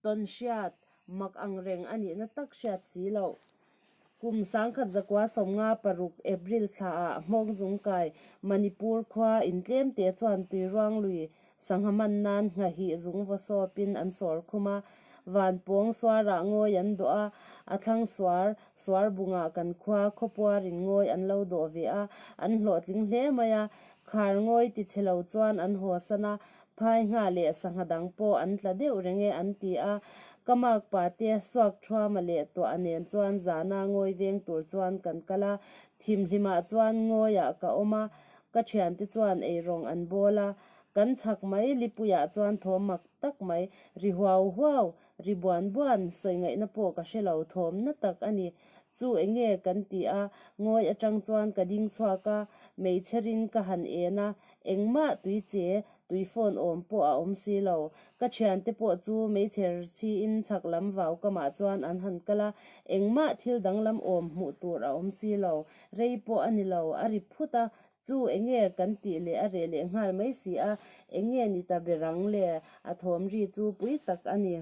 Tawn hriat, mak ang reng a nihna tak hriat si lo. Kum sangkhat zakua sawmnga paruk, April, thla ah Hmawngzung kai, Manipur khua, in tlem te chuan tui ruang lui sangha man nan nghahih zung vaw sawp in an sawr khum a. Van pawng suar ah ngawi an dawh a, a thlang suar, suar bung ah kan khua, khaw puar in ngawi an lo dawh ve a, an hlawhtling hle mai a. Khar ngawi ti che lo chuan an haw san a, phaihnga leh sangha dang pawh an tla deuh reng e an ti a. Ka mak pa te suak thuam a leh tuah a nen chuan zana ngawi veng tur chuan kan kal a, thimhlimah chuan ngawiah ka awm a, ka thiante chuan eirawng an bawl a, kan chhak mai, Lipuia chuan thawm mak tak mai, ri huau huau, Ri buan buan sawi ngaihna pawh ka hre lo thawmna tak a ni. Chu eng nge kan tih a, ngawi atang chuan ka ding chhuak a, hmeichhe rin ka han en a, engmah tui che, tui phone awm pawh a awm si lo. Ka thian te pawh chu hmeichhe rthi in chhak lam vau ka mah chuan an han kal a, engmah thil danglam awm hmuh tur a awm si lo. Rei pawh a ni lo, a ri phut a, Chu enge kan tih leh a reh leh nghal mai si a, enge ni ta ber ang le? A thawm ri chu pui tak a ni.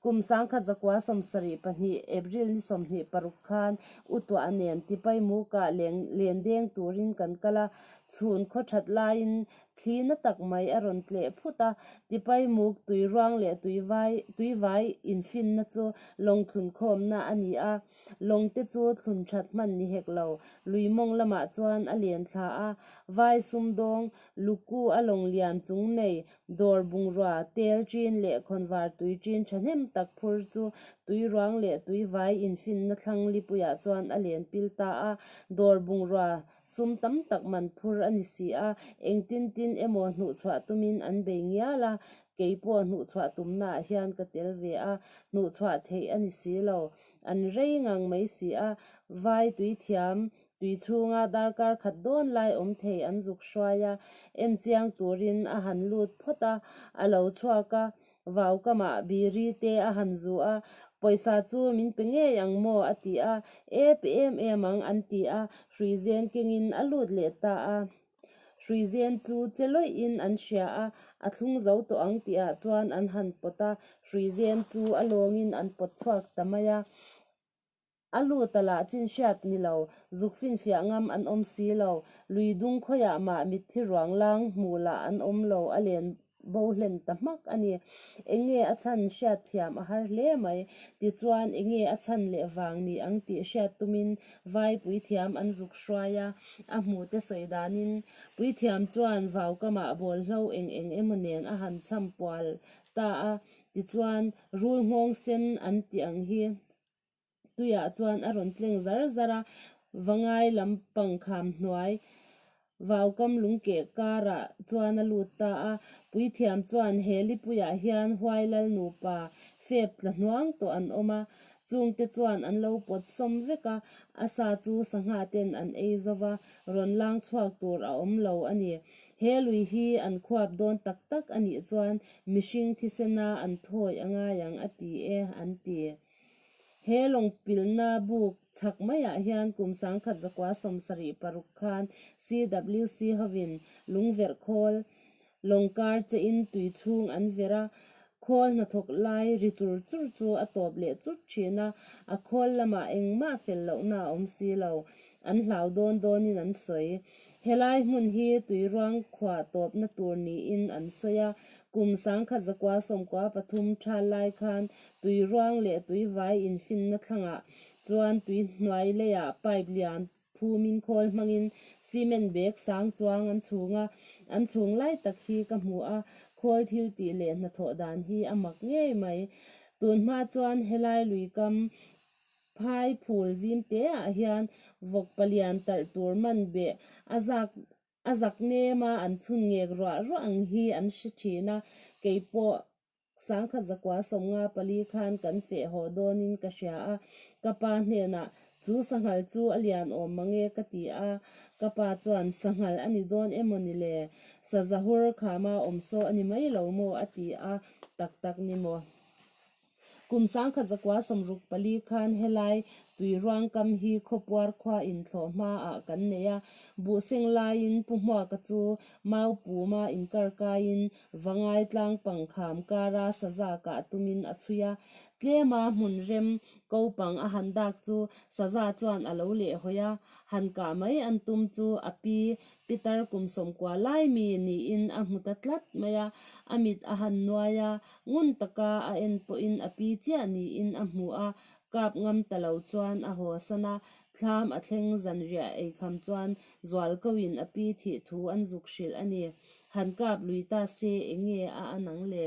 Kum sangkhat zakua sawm sarih pahnih, April ni sawmhnih paruk khan U Tuah nen Tipai Muka leng lendeng turin kan kal a, chhun khaw that laiin thli na tak mai a rawn tleh phut a. Tipai Muk tuiruang leh tuivai tuivai infinna chu lawngthlun khawmna a ni a. Lawngte chu thlun that hman ni hek lo. Luimawng lamah chuan a lian thla a, vai sumdawng, luku a lawng lian chung nei, dawr bungrua, tel ṭin leh khawnvar tui ṭin ṭhahnem tak phur chu tui ruang leh tui vai infinna thlang lipuiah chuan a len pil ta a. Dawr bungrua sum tam tak man phur a ni si a, engtin tin emaw hnuhchhuah tumin an bei ngial a, keipawh hnuhchhuah tumnaah hian ka tel ve a, hnuhchhuah theih a ni si lo. an rei ngang mai si a, vai tui thiam tui chhunga darkar khat dawn lai awm thei an zuk hruai a, en chiang turin a han lut phawt a, a lo chhuak a, vau kamah biri te a han zuh a, pawisa chu min pe ngei ang maw a ti a, e pe em em ang an ti a, hruizen kengin a lut leh ta a. Hruizen chu che lawih-in an hria a, a thlung zo tawh ang tih ah chuan an han pawt a, hruizen chu a lawngin an pawt chhuak ta mai a. A lut a lah chin hriat ni lo, zuk finfiah ngam an awm si lo, lui dung khawiah mah mitthi ruanglang hmuh lah an awm lo a len. Bo hlen ta hmak a ni. Eng nge a chhan hriat thiam a har hle mai. Tichuan, eng nge a chhan leh vang ni ang tih hriat tumin vai Puithiam an zuk hruai a, a hmuhte sawi danin. Puithiam chuan vau kamah bawlhlo eng eng emaw nen a han cham pual ta a. Tichuan, Rul nghawng sen an tih ang hi. tuiah chuan a rawn tleng zar zar a, va ngai lam pang kham hnuai vau kam lung keh karah chuan a lut ta a. Puithiam chuan he lipuiah hian Huailal nupa fep tla hnuang tawh an awm a, chung te chuan an lo pawt sawm vek a, a sa chu sangha ten an ei zo va, rawn lang chhuak tur a awm lo a ni. He lui hi an khuap dawn tak tak a nih chuan mihring thisena an thawi a ngai ang a ti e an ti. He lawngpilhna buk chak maiah hian kum sangkhat zakua sawm sarih paruk khan CWC hovin lungverh khawl lawng kar che in tui chhung an verh a, khawl hnathawk lai ri chur chur chu a tawp leh chut thin a, a khawl lamah engmah fel lohna a awm si lo an hlau dawn dawnin an sawi. Helai hmun hi Tuiruang khua tawpna tur niin an sawi a, kum sangkhat zakua sawmkua pathum tha lai khan Tuiruang leh Tuivai infinna thlangah chuan tui hnuai leiah pipe lian phumin khawl hmangin cement bag sang chuang an chhung a, an chhung lai tak hi ka hmu a, khawl thil tih leh hnathawh dan hi a mak ngei mai. Tunhma chuan helai luikam Phai phul zim te ah hian vawk palian talh tur man beh a zak a zak nem a, an chhun ngek ruah ruah ang hi an hre thin a, kei pawh Sangkhat zakua sawm nga pali khan kan feh haw dawn in ka hria a, ka pa hnen ah chu sanghal chu a lian awm mange ka ti a, ka pa chuan sanghal a ni dawn emaw ni le, sa zahur khama awmsaw a ni mai lo maw a ti a, tak tak ni maw. Kum sangkhat zakua sawmruk pali khan helai tui ruangkam hi khawpuar khua in thlawh hma ah kan neih a, buhseng lai in pu hmuaka chu mau pum a in kar kai in vangai tlang pangkham kar a sazak ah tum in a chhui a, tlem a hmun rem ko pang a han dak chu saza chuan a lo leh hawi a, han kah mai an tum chu a pi Pitar kum sawmkua lai mi ni in a hmu ta tlat mai a, a mit a han nuai a. Ngun taka a en pawhin a pi chiah niin a hmu a, kap ngam ta lo chuan a haw san a, thlam a thleng zanriah ei kham chuan zual koin a pi thih thu an zuk hrilh a ni. Han kap lui ta se, eng nge a an ang le?